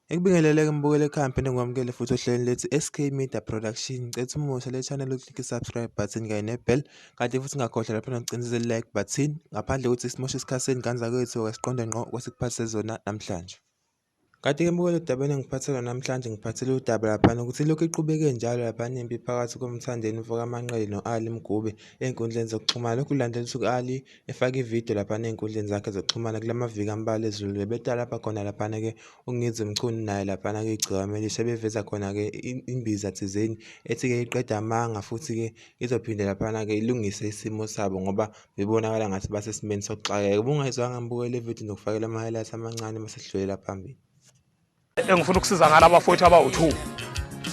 Ngikubingelele-ke Mbukelekhaya ngiphinde ngikwamukele futhi ohlelweni lethu SK Media Production. Ngicela ukuthi umuhle le channel uklike i-subscribe button kanye ne-bell kanti futhi ungakhohlwa lapho nokucinisa i-like button ngaphandle kokuthi simoshe isikhathi senu ngane zakwethu okasiqonde ngqo kwesikuphathise zona namhlanje. Kanti-ke Mbukele edabeni engiphathela namhlanje ngiphathele udaba laphana ukuthi lokhu iqhubeke njalo laphana impi phakathi komthandeni mfokamanqele no-Ali Mgube ey'nkundleni zokuxhumana. Lokhu kulandela ukuthi u-Ali efake ividiyo laphana ey'nkundleni zakhe zokuxhumana kula maviki ambalwa ezulile betalabha khona laphana-ke ungizwe mchunu naye laphana-ke igciwame lishe beveza khona-ke imbiza thizeni ethi-ke iqeda amanga futhi-ke izophinde laphana-ke ilungise isimo sabo ngoba bebonakala ngathi basesimeni sokuxakeka ubungayizwanga ngibukele ividiyo nokufakela ama-highlights amancane masesidlulela phambili engifuna ukusiza ngala bafowethu abawu-2 um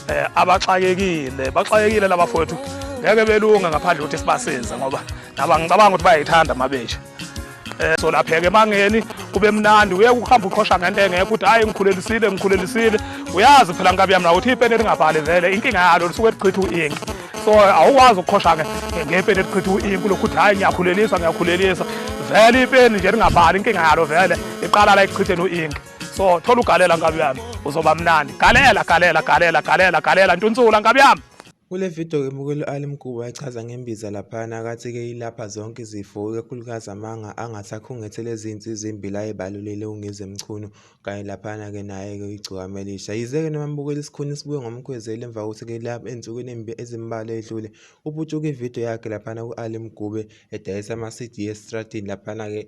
eh, abaxakekile baxakekile laba fowethu ngeke belunga ngaphandle ukuthi sibasize ngoba naba ngicabanga ukuthi bayayithanda mabesha um eh, solapheka emangeni kube mnandi uye kuhamba uqhosha ngento engekho ukuthi hhayi ngikhulelisile ngikhulelisile uyazi phela nkabi yami nakuthi ipeni elingabhali vele inkinga yalo lisuke lichitha u-inki so awukwazi ukuqhosha ngepeni elichitha u-inki lokhu ukuthi hhayi ngiyakhulelisa ngiyakhulelisa vele ipeni nje lingabhali inkinga yalo vele iqala la ekuchitheni u-inki so thola ugalela nkabi yami uzoba mnandi galela galela galela galela galela ntunsula nkabi yami Kule video-ke uMukeli u-Ali Mkuba echaza ngembiza laphana akathi-ke ilapha zonke izifo ikakhulukazi amanga angathi akhungethele ezinsi ezimbili ayebalulile uNgize Mchunu kanye laphana-ke naye-ke igciwane elisha. Yize-ke noma amubukela isikhuni sibuye ngomkhwezeli emva kokuthi-ke ensukwini ezimbalwa edlule uputshuke ividiyo yakhe laphana ku-Ali Mkube edayisa ama-CD esitradini laphana-ke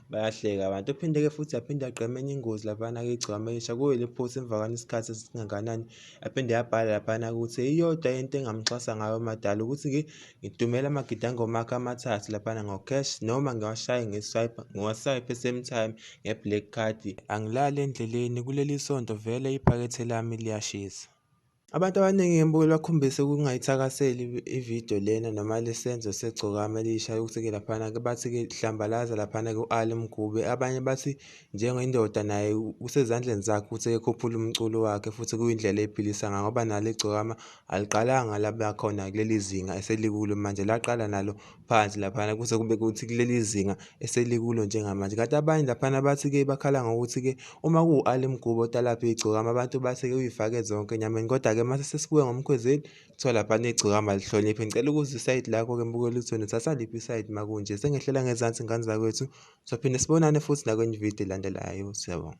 Bayahleka abantu. Uphinde-ke futhi aphinde agqame enye ingozi laphana-ke igcwama elisha kuyo le post emva kwanesikhathi esingakanani aphinde yabhala laphana ukuthi iyodwa into engamxhasa ngayo umadala ukuthi ngidumela amagidangoma akhe amathathu laphana ngocash noma ngiwashaye ngeswipe ngiwaswipe same time nge-black card angilali endleleni kuleli sonto vele iphakethe lami liyashisa Abantu abaningi ngembuyo bakhombise ukungayithakaseli ividiyo lena noma lesenzo segcokama elisha yokuthi-ke laphana-ke bathi-ke hlambalaza laphana-ke u-ali mgube abanye bathi njengendoda naye kusezandleni zakhe ukuthi-ke khuphule umculo wakhe futhi kuyindlela eyiphilisa ngayo ngoba nalo igcokama aliqalanga labakhona kuleli zinga eselikulo manje laqala nalo phansi laphana kuze kube kuthi kuleli zinga eselikulo njengamanje kanti abanye laphana bathi-ke bakhala ngokuthi-ke uma kuwu-ali mgubo otalapha igcokama abantu bathi-ke uyifake zonke enyameni kodwa-ke uma sesibuke ngomkhwezeli kuthiwa laphana igcokama lihloniphe ngicela ukuza isayidi lakho-ke mbukela ukuthi wena uthatha liphi isayidi uma kunje sengehlela ngezansi ngane zakwethu sophinde sibonane futhi nakwenye ividiyo elandelayo siyabonga